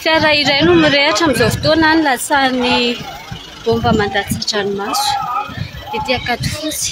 Fiara iray no mirehatra amin'izao fotoana ny latsahan'ny bomba mandatsa-dranomaso ety Ankadifotsy.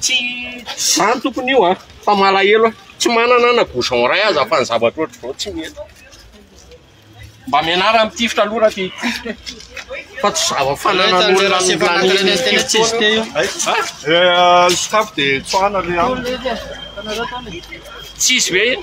Tsy izany tompony io an, fa malahelo aho, tsy manana na bouchon iray aza fa ny zavatra ohatr'izao tsy mety, mba mianara mitifitra aloha raha te hitifitra e, fa tsy zava fananan'olona ny lanian'ity fotoana io. Tsisy ve iny?